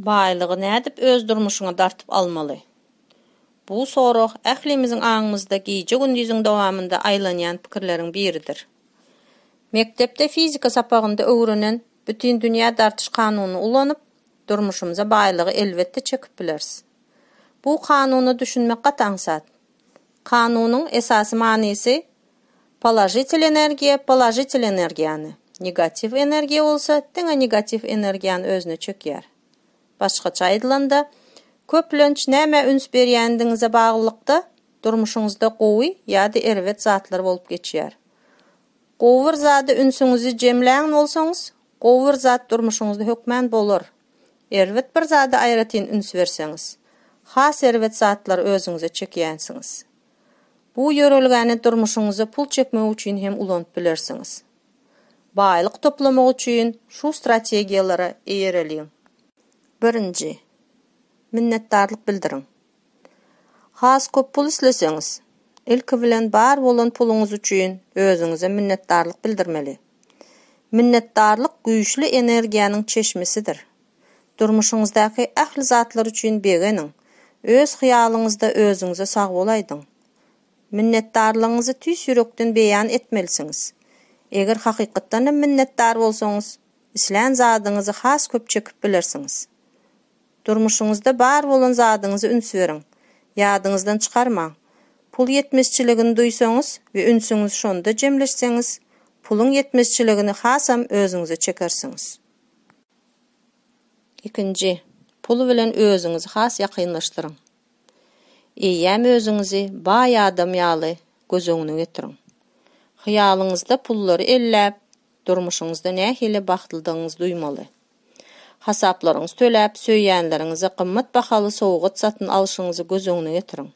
Baýlygy nädip öz durmuşyňa dartyp almaly? Bu sorag ählimiziň aňymyzda gije-gündiziň dowamynda aýlanýan pikirleriň biridir. Mekdepde fizika sapagynda öwrenen bütindünýä dartyş kanunyny ulanyp, durmuşymyza baýlygy elbetde çekip bileris. Bu kanuna düşünmek gaty aňsat. Kanunyň esasy manysy, položitel energiýa položitel energiýany, negatiw energiýa bolsa diňe negatiw energiýany özüne çökýär. Başgaça aýdylanda, köplenç nämä üns berýändigiňize baglylykda, durmuşyňyzda gowy ýa-da erbet zatlar bolup geçýär. Gowy bir zada ünsüňizi jemlän bolsaňyz, gowy bir zat durmuşyňyzda hökmän bolar. Erbet bir zada aýratyn üns berseňiz, has erbet zatlary özüňize çekýänsiňiz. Bu ýörelgäni durmuşyňyza pul çekmek üçin hem ulanyp bilersiňiz. Baýlyk toplamak üçin şu strategiýalara eýereliň. Birinji. Minnetdarlyk bildiriň. Has köp pul isleseňiz, ilki bilen bar bolan puluňyz üçin özüňize minnetdarlyk bildirmeli. Minnetdarlyk güýçli energiýanyň çeşmesidir. Durmuşyňyzdaky ähli zatlar üçin begeniň, öz hyýalyňyzda özüňize sagbol aýdyň. Minnetdarlygyňyzy tüýs ýürekden beýan etmelisiňiz. Eger hakykatdanam minnetdar bolsaňyz, islän zadyňyzy has köp çekip bilersiňiz. Durmuşyňyzda bar bolan zadyňyza üns beriň. Ýadyňyzdan çykarmaň. Pul ýetmezçiligini duýsaňyz we ünsüňizi şonda jemleşseňiz, puluň ýetmezçiligini hasam özüňize çekersiňiz. Ikinji, pul bilen özüňizi has ýakynlaşdyryň. Eýýäm özüňizi baý adam ýaly göz öňüne getiriň. Hyýalyňyzda pullary elläp, durmuşyňyzda nähili bagtlydygyňyzy duýmaly. Hasaplaryňyzy töläp, söýýänleriňize gymmat bahaly sowgat satyn alşyňyzy göz öňüne getiriň.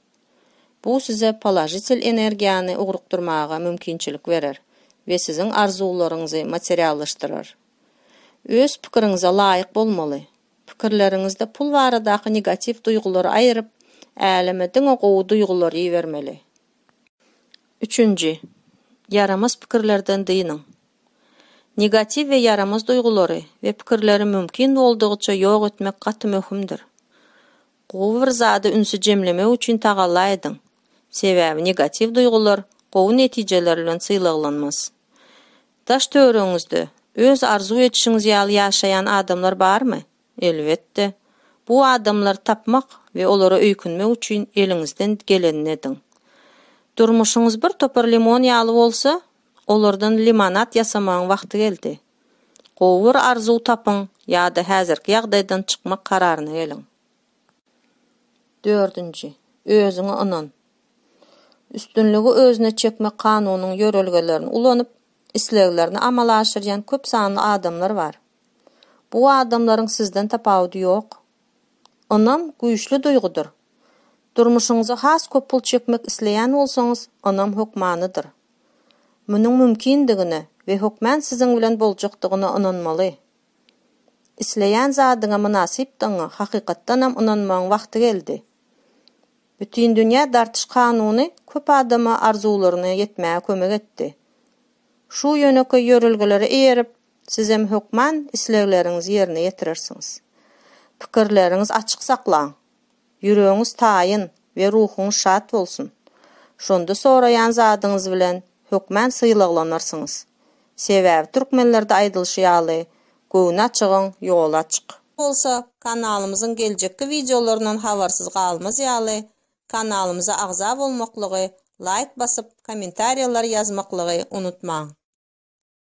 Bu size položitel energiýany ugrukdyrmaga mümkinçilik berer we siziň arzuwlaryňyzy materiallaşdyrar. Öz pikiriňize laýyk bolmaly. Pikirleriňizde pul baradaky negatiw duýgulary aýryp, äleme diňe gowy duýgulary ibermeli. Üçünji. Ýaramaz pikirlerden dynyň. Negatiw we ýaramaz duýgulary we pikirleri mümkin boldugyça ýok etmek gaty möhümdir. Gowy bir zada ünsi jemlemek üçin tagalla ediň, sebäbi negatiw duýgular gowy netijeler bilen sylaglanmaz. Daş-töweregiňizde öz arzuw edişiňiz ýaly ýaşaýan adamlar barmy? Elbetde. Bu adamlary tapmak we olara öýkünmek üçin eliňizden gelenini ediň. Durmuşyňyz bir topar limon ýaly bolsa, Olardan limonad ýasamagyň wagty geldi. Gowy bir arzuw tapyň ýa-da häzirki ýagdaýdan çykmak kararyna geliň. Dördünji, özüňe ynan. Üstünligi özüne çekmek kanunynyň ýörelgelerini ulanyp, isleglerini amala aşyrýan köp sanly adamlar bar. Bu adamlaryň sizden tapawudy ýok, Ynam güýçli duýgudyr. Durmuşyňyza has köp pul çekmek isleýän bolsaňyz, ynam hökmanydyr. Munuň mümkindigine we hökmän siziň bilen boljakdygyna ynanmaly. Isleýän zadyňa mynasypdygyňa hakykatdanam ynanmagyň wagty geldi. Bütindünýä dartyş kanuny köp adama arzuwlaryna ýetmäge kömek etdi. Şu ýönekeý ýörelgelere eýerip, Sizem hökman islegleriňizi ýerine ýetirersiňiz. Pikirleriňizi açyk saklaň. Ýüregiňiz taýyn we ruhuňyz şat bolsun. Şonda soraýan zadyňyz bilen hökman sylaglanarsyňyz. Sebäbi türkmenlerde aýdylyşy ýaly, Göwni açygyň ýoly açyk. Bolsa, kanalymyzyň geljekki wideolaryndan habarsyz galmaz ýaly, kanalymyza agza bolmaklygy, laýk basyp, kommentariýalar ýazmaklygy unutmaň.